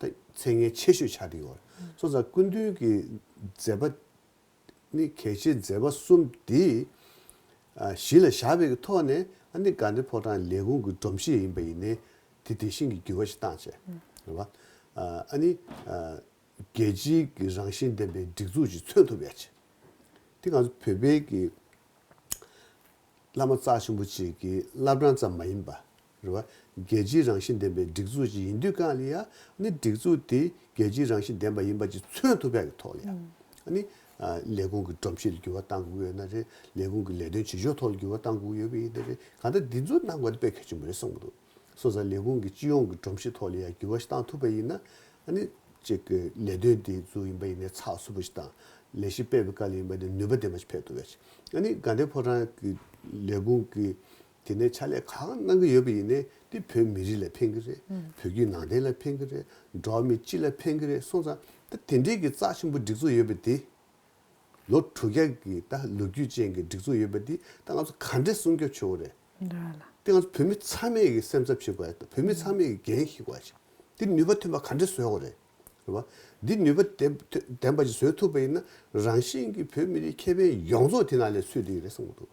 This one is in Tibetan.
ཚད་ངེས་ཆེ་ཤོས་ཆགས་ཀྱི་ཡོད། སོ་སར་སྐུ་མདུན་གྱི་མཛད་པ་ནི་གལ་ཆེའི་མཛད་པ་གསུམ་འདི་གཞི་ལ་བཞག་པའི་ཐོག་ནས་ཨ་ནི་དགའ་ལྡན་ཕོ་བྲང་ལས་ཁུངས་ཀྱི་སྒྲོམ་གཞི་ཡིན་པ་ཡིན་ནའི་དེ་དེ་བཞིན་གྱི་འགྱུར་བ་ཞིག་བཏང་ཆེ། རེད་བ། ཨ་ནི་རྒྱལ་སྤྱིའི་གྱི་རང་བཞིན་ལྡན་པའི་སྒྲིག་འཛུགས་ཞིག་མཚོན་ཐུབ་ཡ་ཆེ། དེ་གང་ཚོད་བོད་པའི་གྱི་བླ་མ་རྩ་ཆེན་པོ་ཅིག་གྱི་བླ་བྲང་ཙམ་མ་ཡིན་པ། རེད། རྒྱལ་སྤྱིའི་རང་བཞིན་ལྡན་པའི་སྒྲིག་འཛུགས་ཅིག་ཡིན་དུས་ཀང་ལི་ཡ་ནི་སྒྲིག་འཛུགས་དེ་རྒྱལ་སྤྱིའི་རང་བཞིན་ལྡན་པ་ཡིན་པ་ཅིག་མཚོན་ཐུབ་པའི་ཐོག་ལི་ཡ་ནི་ལས་ཁུངས་ཀི་སྒྲོམ་གཞི་ལ་འགྱུར་བ་གཏང་དགོས་ཡོད་ན་རེད། ལས་ཁུངས་ཀི་ལས་དོན་བྱེད་ཕྱོགས་ཐོག་ལ་འགྱུར་བ་གཏང་དགོས་ཡོད་པ་ཡིན་ན་རེད། གང་ལྟར་འདི་ཚོ་གནང་དགོས་ན་དཔེ་གལ་ཆེན་པོ་རེད་གསུངས་པ་འདུག་སོ་སང་ལས་ཁུངས་ཀི་སྤྱི་ཡོངས་ཀི་སྒྲོམ་གཞི་ཐོག་ལི་ཡ་འགྱུར་བ་ཞིག་གཏང་ཐུབ་པ་ཡིན་ན་ནི་ཅིག་གི་ལས་དོན་དེ་ཚོ་ཡིན་པ་ཡིན་ནའི་ཚགས་ཚུད་པོ་ཞིག་དང་ལས་གཞི་སྤེལ་བའི་ཀ་ལི་ཡིན་པ་དེ་ནུས་པ་ལྡན་པ་ཞིག་ཕེབས་ཐུབ་པ་ཡིན། ནི་གང་ལྟའི་ཕོ་བྲང་གི་ལས་ཁུངས་ཀི་དེ་ནས་ཕྱག་ལས་གང་གནང་གི་ཡོད་པ་ཡིན་ནའི་འདི་བོད་མི་རིགས་ལ་ཕན་གི་རེད་བོད་བརྒྱུད་ནང་བསྟན་ལ་ཕན་གི་རེད་འགྲོ་བ་མི་སྤྱི་ལ་ཕན་གི་རེད་སོང་ཙང་ད་དེ་འདྲས་ཀྱི་རྩ་ཆེན་པོ་སྒྲིག་འཛུགས་ཡོད་པ་དེ། ལོ་དྲུག་བརྒྱ་ཀྱི་ད་ལོ་རྒྱུས་ཅན་གྱི་སྒྲིག་འཛུགས་ཡོད་པ་དེ་ད་ང་ཚོ་ག་འདྲས་སྲུང་སྐྱོབ་བྱེད་འོ་རེད། དེ་ང་ཚོ་བོད་མི་ཚང་མས་ཀྱི་སེམས་འཚབ་བྱེད་དགོས་བོད་མི་ཚང་མས་ཀྱི་འགན་ཞིག་དགོས་ཞིག་དེ་ནུས་པ་ཐོན་པ་ག་འདྲས་བཟོས་འོ་རེད། རེད་བ། འདི་ནུས་པ་ལྡན་པ་ཞིག་བཟོས་ཐུབ་པ་ཡིན་ན་རང་བཞིན་གྱི་བོད་མི་རིགས་ཁེ་ཕན་ཡོངས་རྫོགས་དེ་ནང་ལས་ཚུད་དེ་ཡི་རེད་བསམ་གི་འདུག།